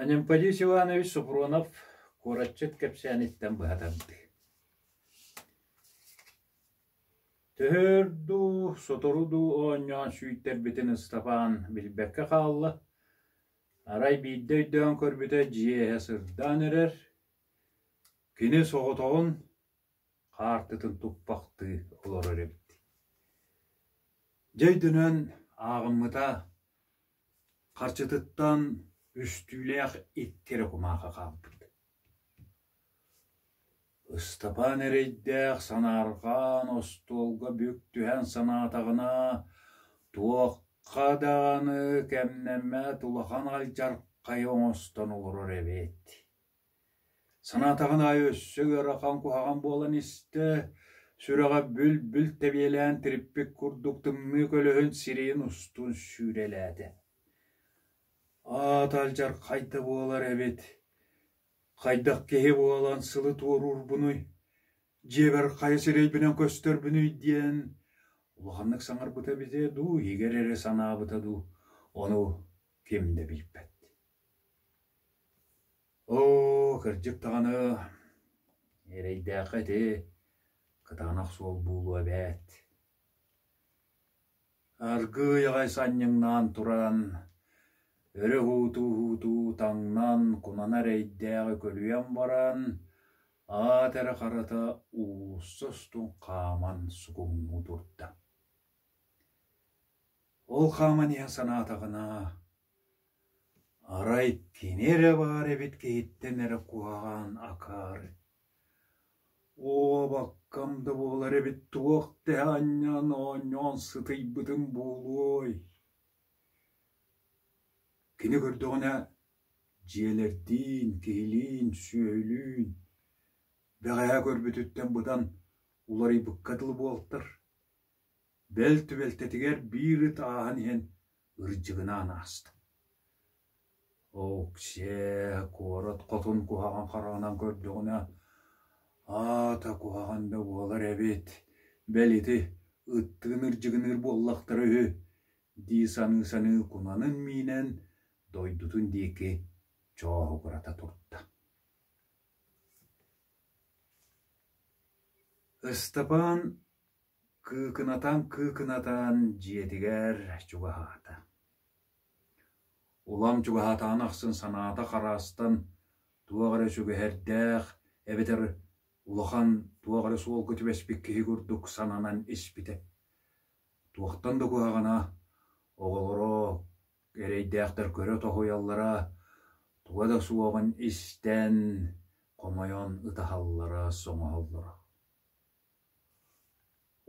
Анемподий Силуанович Суфронов куораччыт кэпсээниттэн быһа тардыы Төһөр дуу, сотору дуу оонньоон сүүйтэрбитин Ыстапаан билбэккэ хаалла, арай биирдэ өйдөөн көрбүтэ дьиэ иһэ сырдаан эрэр, кини соҕотоҕун хаартытын туппахтыы олорор эбит Дьэ өйдөнөн ааҕыммыта, харчытыттан үстүүлээх ит кэрэ кумаахы хаалбыт Ыстапаан эрэйдээх санаарҕаан остуолга бүк түһэн санаатаҕына, туохха даҕаны кэмнэммэт улахан алдьархайы оҥостон олорор эбит Санаатаҕын аайы өссө ыарахан куһаҕан буолан истэ, сүрэҕэ бүл-бүл тэбиэлээн тириппит курдук тымныы көлөһүн сирэйин устун сүүрэлээтэ: «Аата алдьархай да буолар эбит, хайдах киһи буолан сылы туоруурбунуй, дьиэбэр хайа сирэйбинэн көстөрбүнүй?» диэн улаханнык саҥарбыта эбитэ дуу, иһигэр эрэ санаабыта дуу, ону ким да билбэт. Оо, кырдьык даҕаны, эрэйдээххэ ити кытаанах суол буолуо эбээт. Аргыый аҕай санньыҥнаан туран, өрө уһуутуу-уһуутуу таҥнан, кунана эрэйдээҕи көлүйэн баран, аат эрэ харата уулусса устун хааман сугуҥнуу турда. Ол хааман иһэ санаатаҕына Арай кини эрэ баар эбит киһиттэн эрэ куһаҕан акаары «Уобаккам да буолар эбит туох тэһэ анньан оонньоон сытыйбытын буолуой» Кини көрдөҕүнэ дьиэлэрдиин, киһилиин, сүөһүлүүн бэҕэһээ көрбүтүттэн быдан уларыйбыкка дылы буолтар бэл түбэлтэтигэр биир ыт ааһан иһэн ырдьыгынаан ааста Оксия куорат хотун куһаҕан хараҕынан көрдөҕүнэ аата куһаҕан да буолар эбит бэл ити ыттыын ырдьыгыныыр буоллахтара үһү дии саныы-саныы кунанын миинэн дойдутун диэки чооһугурата турда Ыстапаан кыыкынатан-кыыкынатан дьиэтигэр чугаһаата. Улам чугаһаатаҕын ахсын санаата хараастан туох эрэ сүгэһэрдээх эбэтэр улахан туох эрэ суолга түбэспит киһи курдук сананан испитэ. Туохтан да куһаҕана оҕолоро Эрэйдээхтэр көрө тоһуйаллара, туга да суоҕун истэн, хомойон ытаһаллара, соҥоһоллоро.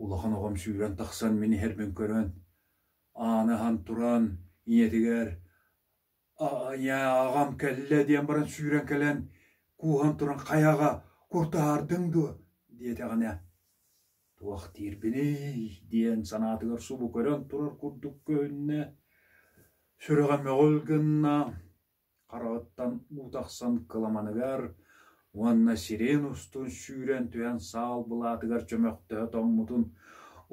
Улахан оҕом сүүрэн тахсан мин иһэрбин көрөн, ааны аһан туран, ийэтигэр «Ааньаа, аҕам кэллэ» диэн баран сүүрэн кэлэн, кууһан туран «Хайаҕа, куртаһаардыҥ дуо?» диэтэҕинэ Туох диирбиний? диэн санаатыгар субу көрөн турар курдук көһүннэ, сүрэҕэ мөҕүл гынна, хараҕыттан уу тахсан кыламаныгар уонна сирень устун сүүрэн түһэн саал былаатыгар чөмөхтөһө тоҥмутун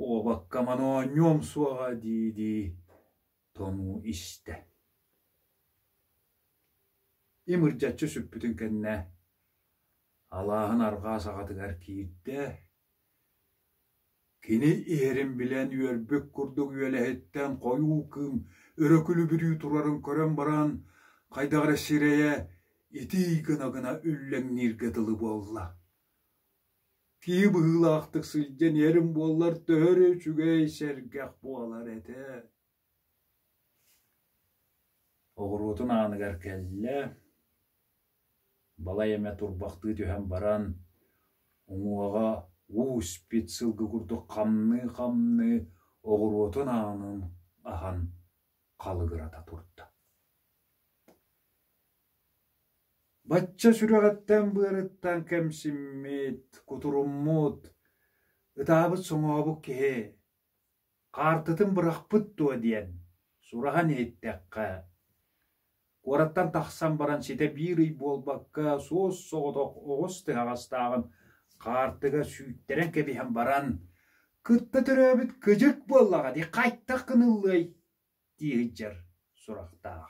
«Уобакка моноонньуом суоҕа» дии-дии Тонуу истэ: имырдьаччы сүппүтүн кэннэ, алааһын арҕаа саҕатыгар киирдэ, кини иһэрин билэн үөрбүт курдук үөлэһиттэн хойуу кыым өрөкүлүбүрүү турарын көрөн баран, хайдах эрэ сирэйэ итии гына-гына үллэҥнииргэ дылы буолла. Киһи быһыылаахтык сылдьан иһэрин буоллар төһө эрэ үчүгэй сэргэх буолар этэ Оҕуруотун ааныгар кэллэ, балай эмэ турбахтыы түһэн баран, уҥуоҕа уу испит сылгы курдук хамныы-хамныы оҕуруотун аанын аһан халыгырата турда Бачча сүрэҕиттэн-быарыттан кэмсиммит, кутуруммут, ытаабыт соҥообук киһи «Хаартытын бырахпыт дуо?» диэн сураҕын иһиттэххэ, куораттан тахсан баран ситэ биир ый буолбакка суос-соҕотох оҕус тыһаҕастааҕын хаартыга сүүттэрэн кэбиһэн баран, «Кытта төрөөбүт кыдьык буоллаҕа дии, хайтах гыныллыай?» дии сылдьар сурахтаах